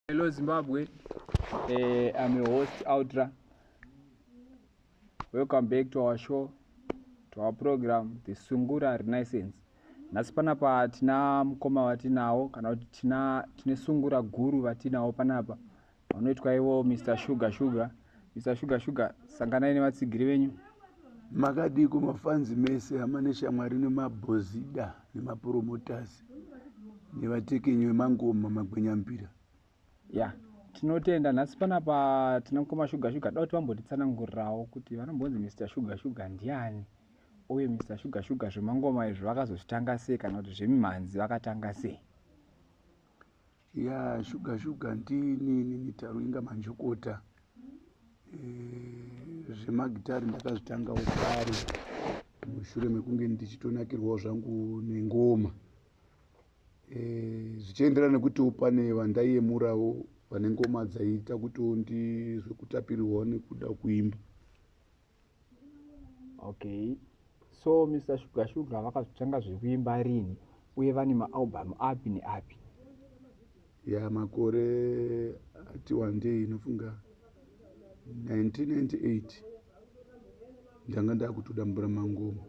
Hello Zimbabwe. Uh, I'm your host Outra. Welcome back to our show, to our program The Sungura Renaissance. Nhasi panapa tina mukoma vatinawo kana kuti tina tine sungura guru vatinawo panapa vanoitwa ivo Mr Sugar Sugar. Mr Sugar Sugar sanganai nevatsigiri venyu. Makadii kumafanzi mese hama neshamwari nemabhozida nemapromoters nevatekenyi vemangoma magwenyampira. Yeah tinotenda nhasi panapa tina mukoma shuga shuga dauti vambotitsanangurirawo kuti vanombonzi mr shuga shuga ndiani uye mr shuga shuga zvemangoma izvi vakazozvitanga sei kana kuti zvemimhanzi vakatanga sei ya shuga shuga ndini mitaro inga manjokota eh, zvemagitari ndakazvitangawo kare mushure mekunge ndichitonakirwawo zvangu nengoma eh, zvichienderana nekutiwo pane vandaiyemurawo vane ngoma dzaiita kutiwo ndizve kutapirirwawo nekuda kuimba okay so mr shuga shuga vakazotanga zvekuimba rini uye vane maalbum api neapi ya yeah, makore ati wandei inofunga 1998 ndanga ndakutodambura mangoma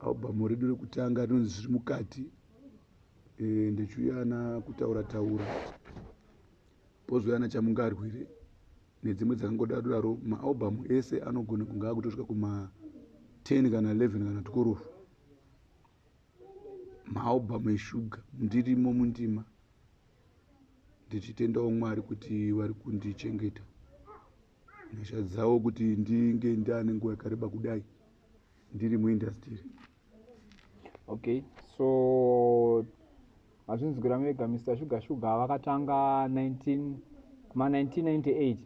album redu rekutanga rinonzi zviri mukati e, ndechiuyana kutaura taura Pozouya ana Chamungarwire nedzimwe dzakangodaro daro. Maalbum ese anogona kunge akutosvika kuma 10 kana 11 kana tukurufu. Maalbum eshuga ndirimo mundima ndichitendawo Mwari kuti vari kundichengeta nyasha dzawo kuti ndinge ndane nguva yakareba kudai ndiri muindastiri. okay so hazvinzi gura mega mr sugar sugar vakatanga 19 kuma 1998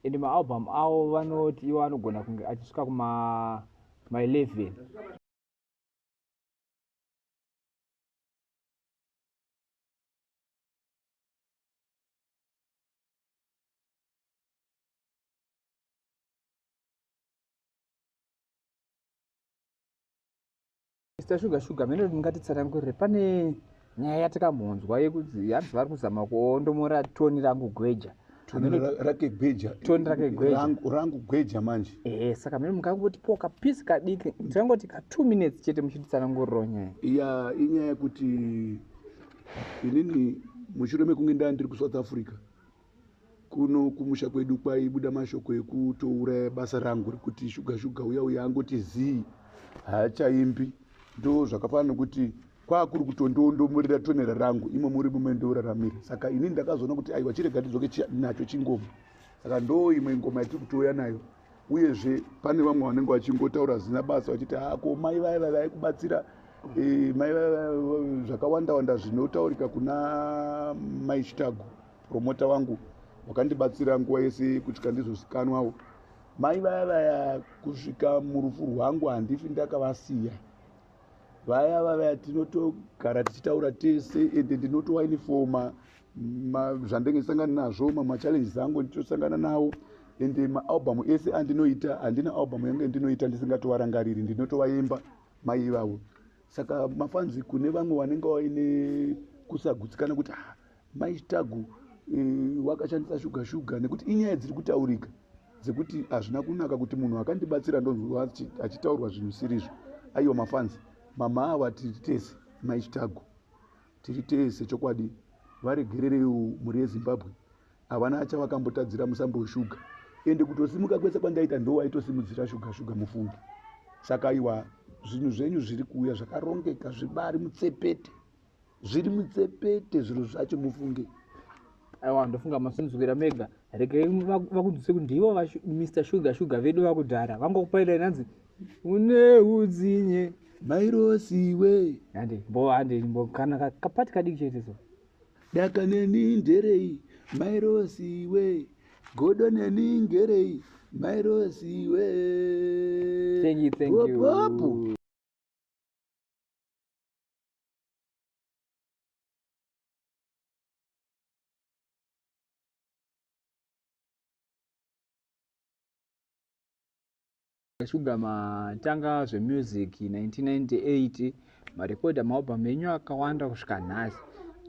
and maalbum avo vanoti ivo anogona kunge achisvika kuma ma 11 Mr. Sugar Sugar, mene ndingatitsanangurire pane nyaya yatikamhonzwa yekuti hanzi vari kuzama kuondomora toni rangu gweja rake gweja toni rake gwejarangu gweja manje ehe saka mene mungangoti po kapisi kadiki tingangoti ka two minutes chete muchititsananguriro nyaya ya inyaya yekuti inini mushure mekunge ndaa ndiri kusouth africa kuno kumusha kwedu kwaibuda mashoko ekutouraya basa rangu rekuti shuga shuga uya uya angoti zii haachaimbi ndo zvakafanana nokuti kwakuri kutondondomurira tonera rangu imo muri mume ndoraramira saka ini ndakazoona kuti aiwa chirega ndidzoke nacho chingoma saka ndo imwe ngoma yatiri kutouya nayo uyezve pane vamwe vanenge vachingotaura zina basa vachiti hako ah, mai vaya vavai kubatsira eh, mai vaya zvakawanda wanda zvinotaurika kuna mai chitago promota wangu wakandibatsira nguva yese kutya ndizvozikanwawo mai vaya vaya kusvika murufu rwangu handifi ndakavasiya vaya vavaya tinotogara tichitaura tese ende ndinotowainifoma zvandenge ndisangana nazvo mamwe machallenges angu nditosangana nawo ende maalbum ese andinoita handina album yange ndinoita ndisingatovarangariri ndinotovaimba mai ivavo saka mafanzi kune vamwe vanenge vaine kusagutsikana kuti ah, Mai Chitagu eh, wakashandisa shuga shuga nekuti inyaya dziri kutaurika dzekuti hazvina kunaka kuti munhu akandibatsira ndonzwa achitaurwa zvinhu sirizvo aiwa mafanzi mama ava tiri tese mai Chitagu tiri tese chokwadi varegerereiwo mhuri yezimbabwe havana acha vakambotadzira musambo weshuga ende kutosimuka kwese kwandaita ndo waitosimudzira shuga shuga mufungi saka iwa zvinhu zvenyu zviri kuuya zvakarongeka zvibari mutsepete zviri mutsepete zviro zvacho mufunge aiwa ndofunga masinzwira mega regai vakudzise kuti ndivo mr sugar sugar vedu vakudhara vangokupairai nanzi une udzinye mairosiwe hande mbo hande mbo kana kapati kadiki chete so daka neni nderei mairosiwe godo neni ngerei mairosiwe thank you thank you Opo. shuga matanga zvemusic 1998 marekodha maalbum enyu akawanda kusvika nhasi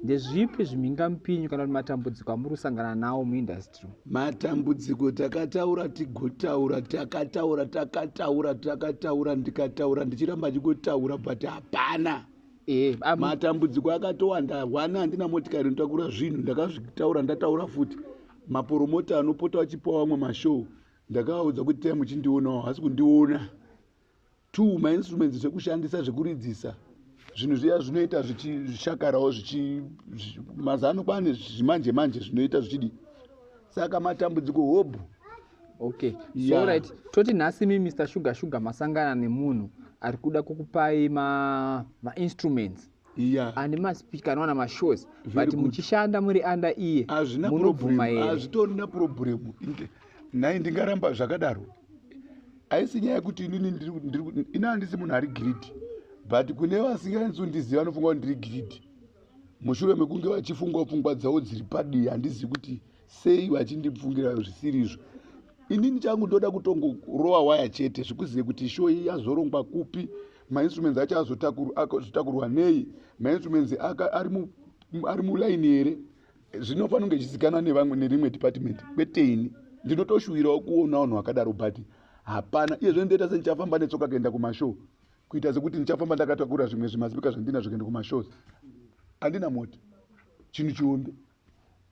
ndezvipi zvimhingamupinyu kana kuti matambudziko amuri kusangana nawo muindustry matambudziko takataura tigotaura takataura takataura takataura ndikataura ndichiramba ndichingotaura but hapana eh, matambudziko akatowanda hwana handina motikari inotakura zvinhu ndakazvitaura ndataura futi maporomota anopota vachipa vamwe mashow ndakavaudza kuti tai muchindionawo hasi kundiona two mainstruments zvekushandisa zvekuridzisa zvinhu zviya zvinoita zvichishakarawo mazano kwane zvimanje manje zvinoita zvichidii saka matambudziko hobhu okay yeah. so right toti nhasi mi mr sugar sugar masangana nemunhu ari kuda kukupai mainstruments ma yeah. and maspeech kana wana mashows but muchishanda muri under iye munobvuma here hazvitorina problem nhai ndingaramba zvakadaro haisi nyaya yekuti inini ini handisi munhu ari gridi but kune vasinganisi kundiziva vanofunga kuti ndiri gridi mushure mekunge vachifunga pfungwa dzavo dziri padii handizivi kuti sei vachindibvungira zvisirizvo inini changu ndoda kutongokurova waya chete zvikuzive kuti show iyi yazorongwa kupi mainstruments acho azotakurwa nei mainstruments ari mulaini here zvinofanira kunge chizikanwa nevamwe nerimwe department kwete ini ndinotoshuwirawo kuona vanhu vakadaro but hapana iye zve ndoita sendichafamba netsoka kuenda kumashow kuita sekuti ndichafamba ndakatakura zvimwe zvimazipika zvandinazvo kuenda kumashows andina moti chinhu chihombe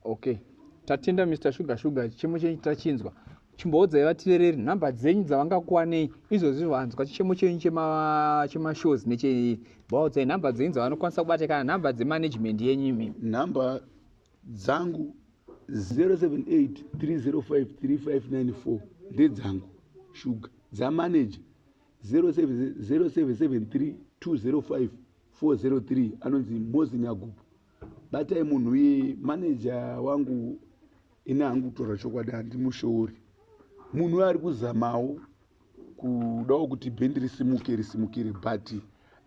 okay tatenda mr sugar sugar chichemo chenyu tachinzwa chimboudzai vatirereri nhamba dzenyu dzavangakuwanei izvozvi vanzwa chichemo chenyu chemashows chema nechei vaudzai nhamba dzenyu dzavanokwanisa kubata kana nhamba dzemanagement yenyu imi nhamba dzangu 078 305 3594 ndedzangu shuga dzamanager 0773 205 403 anonzi mosi nyagupo batai munhu uye maneja wangu ini hangu kutora chokwadi handimushoori munhu uye ari kuzamawo kudawo kuti bhendi risimuke risimukire but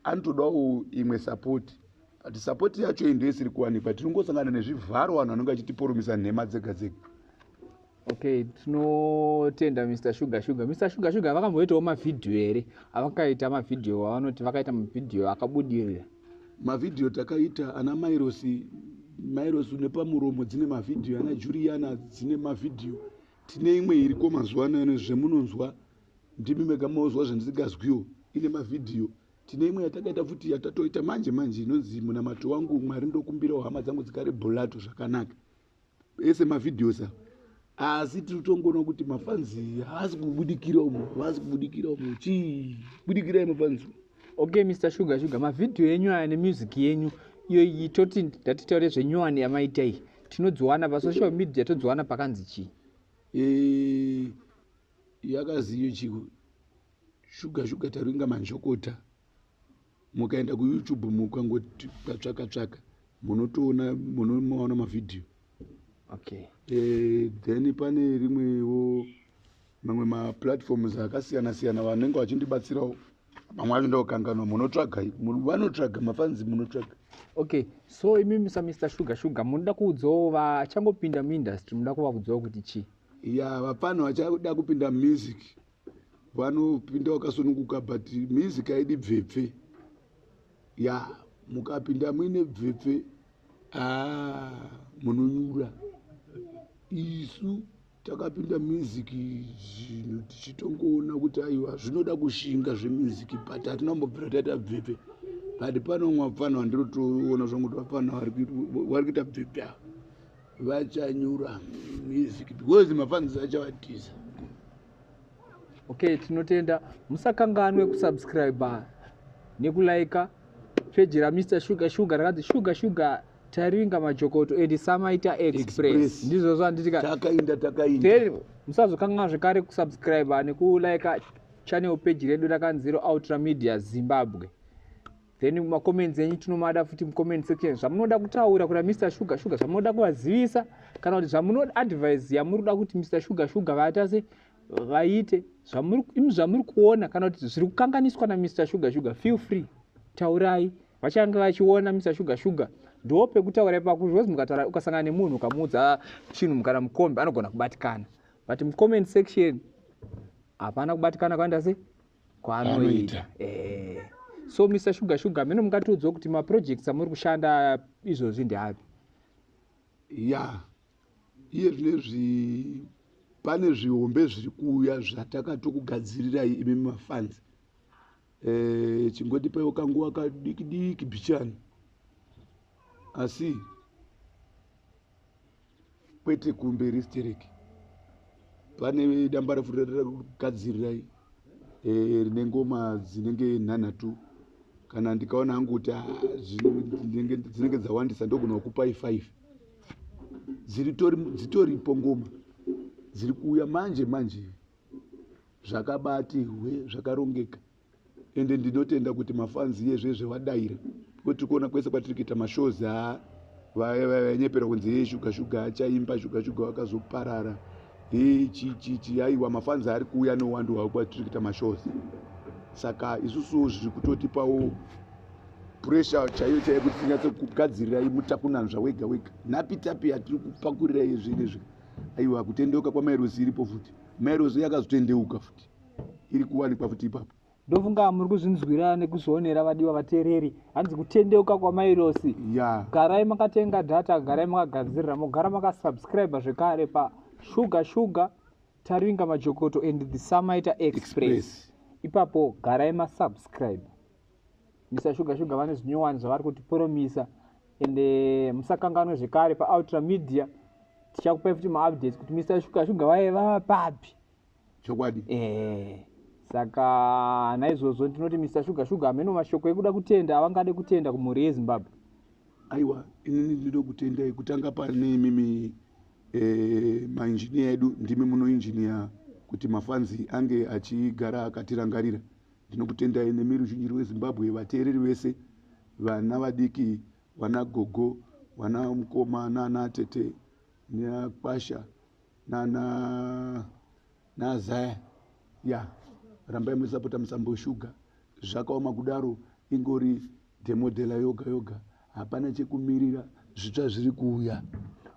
anotodawo imwe sapoti but sapoti yacho iyi ndoisiri kuwanikwa tinongosangana nezvivharo vanhu vanenge vachitiporomisa nhema dzega dzega okay tinotenda mr sugar sugar mr sugar sugar vakamboitawo mavhidhiyo here avakaita mavhidhiyo avanoti vakaita mavhidhiyo akabudirira mavhidhiyo takaita ana mairosi mairosi nepamuromo dzine mavhidhiyo ana juriyana dzine mavhidhiyo tine imwe iriko mazuva ano yane zvemunonzwa ndimi mega maozwa zvandisingazwiwo ine mavhidhiyo tine imwe yatakaita futi yatatoita manje manje inonzi munamato wangu mwari ndokumbirawo hama dzangu dzigare bulato zvakanaka ese mavideos a asi tiri tongoona kuti mafanzi haasi kubudikira umo haasi kubudikira umo chii budikirai mafanzi okay mr sugar sugar mavhidhiyo enyu aya nemusic yenyu iyoyi toti ndatitaure zvenyowani yamaita iyi tinodziwana pasocial media todziwana pakanzi chii eh, yakaziyo chiko shuga shuga taringa manjokota mukaenda kuyoutube mukangoti katsvaka tsvaka munotoona munomaona mavhidhiyo okay. e, then pane rimwewo mamwe maplatforms akasiyana siyana vanenge vachindibatsirawo mamwe acho ndokanganwa munotsvaga vanotsvaga mafanzi munotsvaga okay so imi misa mr sugar sugar munoda kuudzawo vachangopinda muindustry munoda kuvaudzawo kuti chii ya vapfanha vachada kupinda music vanopinda wakasununguka but mizi kaidi bvepfe ya mukapinda muine bvepfe ah, munonyura isu takapinda music zvinhu tichitongoona kuti aiwa zvinoda kushinga zvemusic but hatina kumbobvira taita bvepfe but pano umwe vapfana vandinotoona zvangu kuti vapfana vari kuita bvepfe ava vachanyura music because mafanzi achavatiza okay tinotenda musakanganwe kusubscribe nekulaika peji ramr sugar sugar rakanzi sugar sugar tariringa majokoto and samaita express ndizvo zvanditikatakaindatakainda musazokanganwa zvekare kusubscribe nekulaika channel peji redu rakanziro ultra media zimbabwe then macomments enyu tinomada futi mucomment section zvamunoda kutaura kuna mr sugar sugar zvamunoda kuvazivisa kana kuti zvamunoda advise yamuri kuda kuti mr sugar sugar vaita se vaite imi zvamuri kuona kana kuti zviri kukanganiswa namr sugar sugar feel free taurai vachange vachiona mr sugar sugar ndo pekutaura ipapo because mukataura ukasangana nemunhu ukamuudza chinhu kana mukombe anogona kubatikana but mucomment section hapana kubatikana kwaenda sei kwaanoita eh. so mr sugar sugar mino mungatiudzwa kuti maprojects amuri kushanda izvozvi ndeapi ya yeah. iye zvinezvi pane zvihombe zviri kuuya zvatakatokugadzirirai imi mafanzi e, eh, chingoti paiwo kanguva kadikidiki bichani asi kwete kumberi stereki pane damba refu rekugadzirai eh, rine ngoma dzinenge nhanhatu kana ndikaona hangu kuti ah, dzinenge dzawandisa ndogona kukupai five dzitoripo ngoma dziri kuuya manje manje zvakabati hwe zvakarongeka ende ndinotenda kuti mafans yezvezve vadaira kuti tikuona kwese kwatiri kuita mashows a vanyepera kunzi hei shuga shuga achaimba shuga shuga wakazoparara hei chichichi aiwa mafans ari kuuya nowandi hwavo kwatiri kuita mashows saka isusu zviri kutotipawo pressure chaiyo chaiyo kuti tinyatse kugadzirirai mutakunanzva wega wega napi tapi yatiri kupakurira yezvinezvi aiwa kutendeuka kwamairozi iripo futi mairozi yakazotendeuka futi iri kuwanikwa futi ipapo ndofunga muri kuzvinzwira nekuzvionera vadiwa vateereri hanzi kutendeuka kwamairosi yeah. garai makatenga data garai makagadzirira mogara makasubscribe zvekare pashuga shuga taringa majokoto and the samaita express, express. ipapo garai masubscribe misa shuga shuga vane zvinyowani zvavari kuti poromisa ende eh, musakanganwe zvekare paultra media tichakupai futi maupdates kuti misa shuga shuga vaye vava papi chokwadi eh saka naizvozvo ndinoti mr sugar sugar hameno mashoko ekuda kutenda avangade kutenda kumhuri yezimbabwe aiwa inini ndinoda kutendai kutanga pane imimi eh, mainjiniya edu ndimi munoinjiniya kuti mafanzi ange achigara akatirangarira ndinokutendai nemi ruzhinji rwezimbabwe vateereri vese vana vadiki vana gogo vana mukoma nana tete neakwasha na na na zaya ya rambai musapota musambo shuga zvakaoma kudaro ingori demodela yoga yoga hapana chekumirira zvitsva zviri kuuya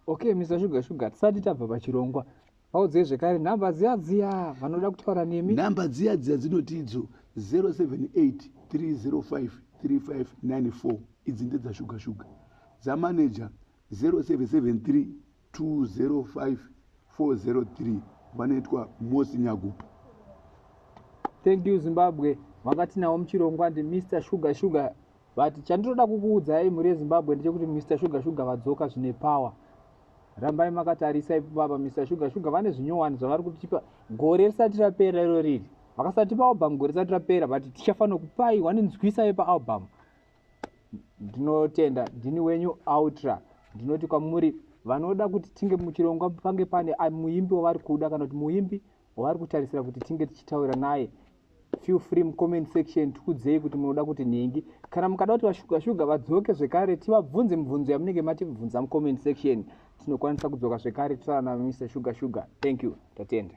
okay mr shuga shuga tisati tabva pachirongwa vaudzei zvekare nhamba dziya dziya vanoda kutaura nemi nhamba dziya dziya dzinoti idzo 078 305 3594 idzi ndedzashuga shuga dzamaneja 0773 205403 vanoitwa mosi nyagupa thank you zimbabwe vakati nawo muchirongwa ndi mr sugar sugar but chandinoda kukuudzai mhuri yezimbabwe ndechekuti mr sugar sugar vadzoka zvine power rambai makatarisa ipo baba mr sugar sugar vane zvinyowani zvavari kutipa gore risati rapera iro riri vakasatipa album gore risati rapera but tichafanira kupai waninzwisa yepa album ndinotenda ndini wenyu outra ndinoti kwamuri vanoda kuti tinge muchirongwa pange pane muimbi wavari kuda kana kuti muimbi wavari kutarisira kuti tinge tichitaura naye feel free mucomment section tikudzei kuti munoda kuti nhingi kana mukada kuti vashuga shuga vadzoke zvekare tivabvunze mibvunzo yamunenge matibvunza mucomment section tinokwanisa kudzoka zvekare totaura navo mr shuga shuga thank you tatenda